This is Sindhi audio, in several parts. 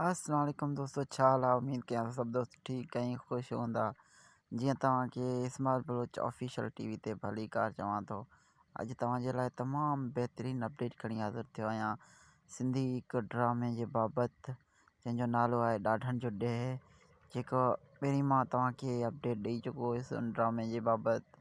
السلام عليڪم دوستو ڇا حال آهي اميد ڪيان ٿو سڀ دوست ٺيڪ ۽ خوش هوندا جيئن توهان کي اسمار بلوچ آفيشل ٽي وي تي ڀليڪار چوان ٿو اڄ توهان جي لاء تمام بهترين اپڊيٽ کڻي حاضر ٿيو آهيان سنڌي هڪ ڊرامي جي بابت جنهن جو نالو آهي ڏاڍن جو ڏيهه جيڪو پهرين مان توهان کي اپڊيٽ ڏئي چڪو هيس ان ڊرامي جي بابت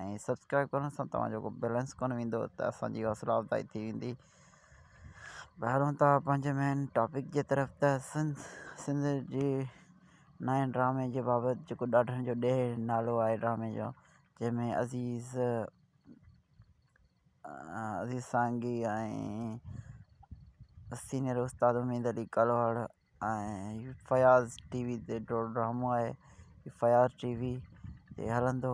۽ سبسڪرائب ڪرڻ سان توهان جو ڪو بئلنس ڪونه ويندو ته اسان جي حوصلا افزائي ٿي ويندي ٻاهرون ته پنهنجي مين ٽاپڪ جي طرف ته سنڌ سنڌ جي نئين ڊرامي جي بابت جيڪو ڏاڍن جو ڏيهه نالو آهي ڊرامي جو جنهن ۾ عزيز عزيز سانگي ۽ سينئر استاد اميد علي ڪلهوڙ ۽ فياض ٽي وي تي ڊو ڊرامو آهي فياض ٽي وي تي هلندو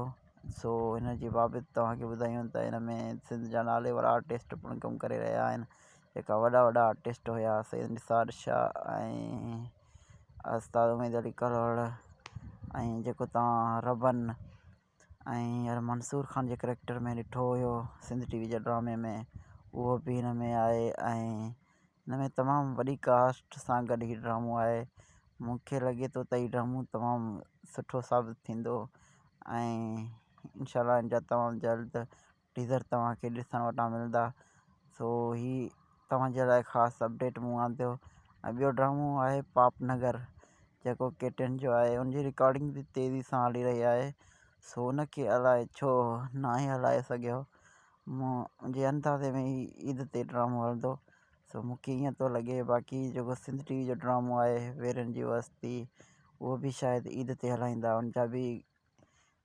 سو ان جي بابت تواں کي ٻڌايون ته ان ۾ سنڌ جا ناليوار آرٽسٽ پڻ ڪم ڪري رهيا آهن جيڪا وڏا وڏا آرٽسٽ هيا سيد نثار شاهه ۽ استاد اميد علي ڪلهوڙا ۽ جيڪو تواں ربن ۽ يار منصور خان جي ڪريڪٽر ۾ ڏٺو هيو سنڌ ٽي وي جي ڊرامي ۾ اهو به هن ۾ آهي ۽ هن ۾ تمام وڏي ڪاسٽ سان گڏ هي ڊرامو آهي مونکي لڳي ٿو ته هي ڊرامو تمام سٺو ثابت ٿيندو ۽ انشاء الله ان جا تمام جلد ٽيزر توهان کي ڏسڻ وٽان ملندا سو هي توهان جي لاء خاص اپڊيٽ مون آنديو ۽ ٻيو ڊرامو آهي پاپ نگر جيڪو ڪي ٽن جو آهي ان جي رڪارڊنگ بي تيزي سان هلي رهي آهي سو ان کي الائي ڇو ناهي هلائي سگهيو منهنجي اندازي ۾ هي عيد تي ڊرامو هلندو سو مون کي ائين ٿو لڳي باقي جيڪو سنڌ ٽي وي جو ڊرامو آهي ويرن جي وستي اهو بي شايد عيد تي هلائيندا ان جا بي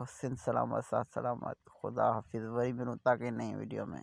حسين سلامت ساٿ سلامت خدا حافظ وري ملون ٿا ڪنهن نئين وڊيو ۾